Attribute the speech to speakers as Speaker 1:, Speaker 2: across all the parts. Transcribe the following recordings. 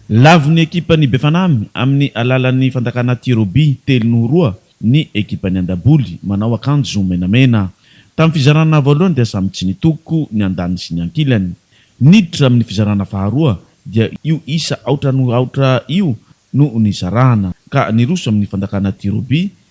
Speaker 1: Nilavo ny ekipan'ny Befanamy amin'ny alalan'ny fandakana tir au but telo noho roa ny ekipan'ny Andaboly manao akanjo menamena. Tamin'ny fizarana voalohany dia samy tsy nitoko ny andaniny sy ny ankilany. Niditra amin'ny fizarana faharoa dia io isa aotra noho aotra io no nizarana ka niroso amin'ny fandakana tir au but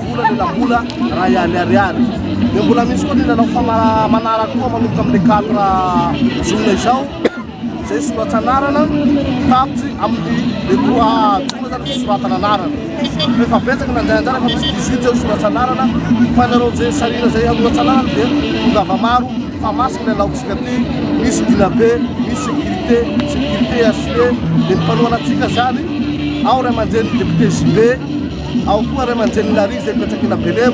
Speaker 1: Vola lela-bola raha ihany ariary. Dia mbola misy koa ny nanao famara-manara koa manomboka amin'ny quatre jona izao, izay soratsanarana tapitry amin'ny le trois jona izany fisoratana anarana. Efa betsaka nandray anjara efa misy dix huit eo soratsanarana fa ny anao izay sahirana izay hanoratsanarana dia tongava maro fa masina ny alaontsika aty, misy dinabe, misy sécurité, sécurité HCD, dia ny mpanohana antsika izany ao ray aman-dreny député JB. Ao koa ray aman-drenin'i Larry izay Fiantraikena Belem.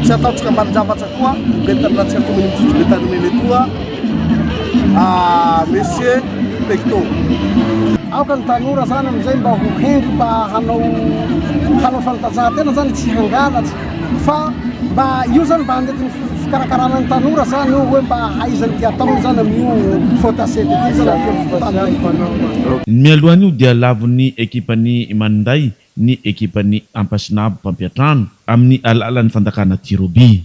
Speaker 1: Tsy ataontsika ambanin-javatra koa ben'ny tanànantsika kaominina Tsotso Betanimena etoa ah, Monsieur Pecto. Aoka ny tanora zany amin'izay mba ho hendry mba hanao hanao fanantanjahantena zany tsy hangalatsy fa mba io zany mba handetin'ny fikarakarana ny tanora zany io hoe mba haizany dia ataony zany amin'io faute à cet été zany Ny mialohan'io dia lavon'ny ekipan'ny Maninday ny ekipan'ny Ampasinabo mpampiantrano amin'ny alalan'ny fandakana tir au but.